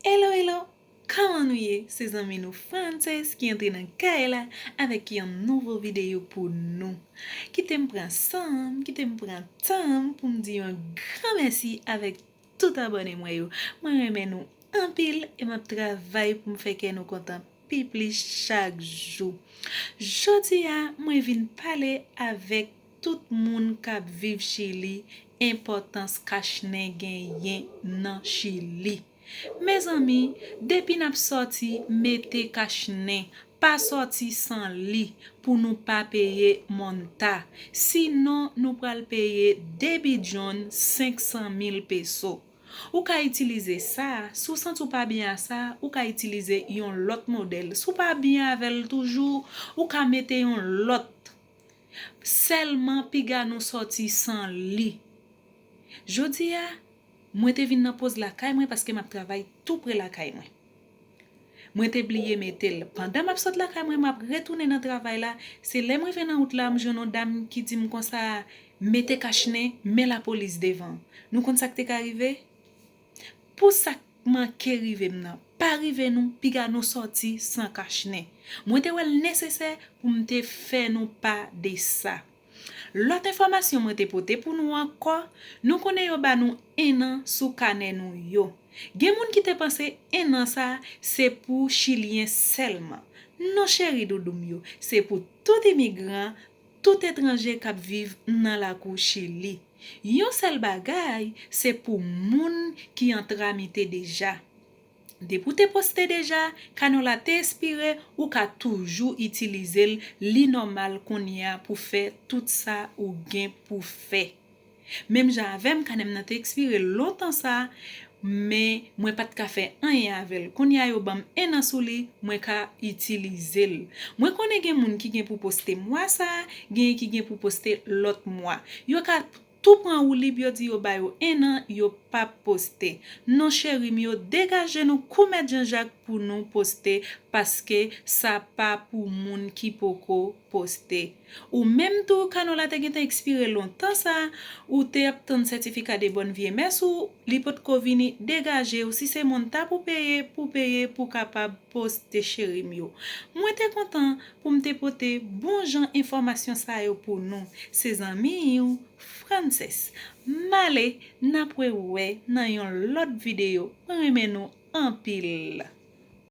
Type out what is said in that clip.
Hello hello Kman nou ye se zanmi nou Frances ki antre nan kay la avèk yon nouvo videyo pou nou kitem pran sanm kitem pran tanm poum di yon gran mèsi avèk tout abòne mwen yo mwen renmen nou anpil e map travay poum fè kè nou kontan pi plis chak jou jodia mwen vin pale avèk Tout moun kap viv chili enpòtans kachnen genyen nan chili mezanmi depi nap sòti mete kachnen pa sòti san li pou nou pa peye monta si non nou pral peye 2 bidyon 500 mil peso ou ka itilize sa si w santi w pa byen a sa ou ka itilize yon lòt modèl si w pa byen avèl toujou ou ka mete yon lòt Sèlman piga nou sòti san li. Jodi a, mwen te vin nan poz lakay mwen paske m ap travay tou pre lakay mwen. Mwen te bliye mete l. Pandan m ap sot lakay mwen, m ap retounen nan travay la, se lè m rive nan wout la, m jwenn yon dam ki di m konsa, Mete kachnen, men lapolis devan. Nou konn sa k te ka rive? Pou sa k manke rive m nan pa rive nou, piga nou sòti san kach nen. Mwen te wè l nesesè pou m te fè nou pa de sa. Lòt enfòmasyon mwen te pote pou nou ankò, nou konnen yo ba nou ennan sou kanè nou yo. Gen moun ki te panse ennan sa a se pou chilyen sèlman. Non cheri doudou m yo, se pou tout imigran, Tout etranje kap viv nan lakou chili. Yon sèl bagay se pou moun ki an tramite deja. Depi ou te poste deja, kanò la te espire ou ka toujou itilizel li nòmal kounyea pou fè tout sa ou gen pou fè. Menm jan avè m, kanè m nan te ekspire lontan sa, men mwen pa t ka fè anyen avè l. Kounye a yo ban m ennan sou li, mwen ka itilize l. Mwen konnen gen moun ki gen pou poste mwa sa, genyen ki gen pou poste lòt mwa. Yo ka tou pran woulib yo di yo ba yo ennan yo p ap poste. Non cheri m yo, degaje nou kou mèt Janjak pou nou poste paske sa pa pou moun ki poko poste. Ou menm tou kano la te gentan ekspire lontan sa ou te ap tann sètifika de bòn vye mès ou li potko vini degajew si se moun ta pou peye pou peye pou kapab poste cherim yo mwen te kontan poum te pote bon jan enfòmasyon sa yo pou nou se zanmiw Frances male nap re wè nan yon lòt video mwen renmen nou anpil.